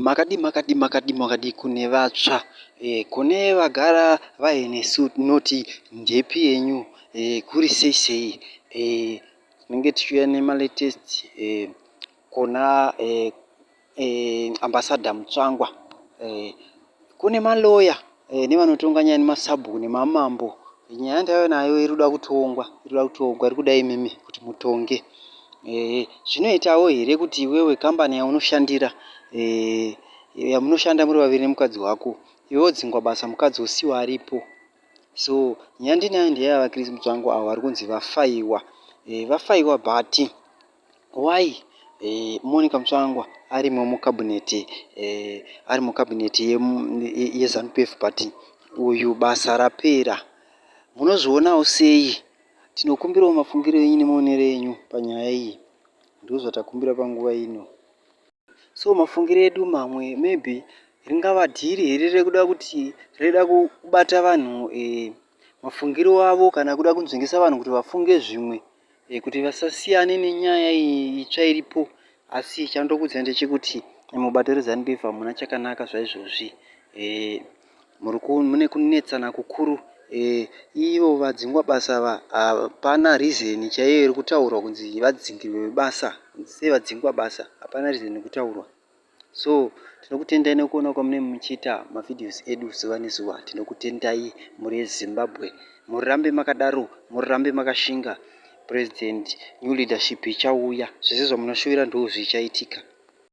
Makadii makadii makadii makadii kune vatsva eh, kune vagara vaine suit noti ndepi yenyu eh, kuri sei sei eh, tinenge tichiuya nemalatest eh, kuna eh, eh, ambassador Mutsvangwa eh, Kune maloya eh, nevanotonga nyaya nemasabhuku nemamambo eh, nyaya yandaiva nayo iri kuda kutongwa iri kuda kutongwa iri kuda imimi kuti mutonge eh, zvinoitawo here kuti iwewe kambani yaunoshandira eh, yamunoshanda muri vaviri nemukadzi wako iwe wodzingwa basa mukadzi usiwo aripo so nyaya ndinayo ndeyava Chris Mutsvango avo vari kunzi vafaiwa eh, vafaiwa bhati Why Monica Mtsvangwa arimo mu cabinet ari mu cabinet ye zanu PF but uyu basa rapera munozvionawo sei tinokumbirawo mafungiro enyu nemaonero enyu panyaya iyi ndozvatakumbira panguva ino so mafungiro edu mamwe maybe ringava dhiri here rekuda kuti reda kubata vanhu mafungiro avo kana kuda kunzvengesa vanhu kuti vafunge zvimwe kuti vasasiyane nenyaya itsva iripo asi chandokuudzai ndechekuti mubato rezanu pf hamuna chakanaka zvaizvozvi eh, muri mune kunetsana kukuru eh, ivo vadzingwa basa va hapana reason chaiyo iri kutaurwa kunzi vadzingirwe basa sei vadzingwa basa hapana reason kutaurwa So tinokutendai nekuona kwamunenge muchiita mavideos edu zuva nezuva tinokutendai mhuri yezimbabwe murambe makadaro murambe makashinga president new leadership ichauya zvese zvamunoshuvira ndozvichaitika.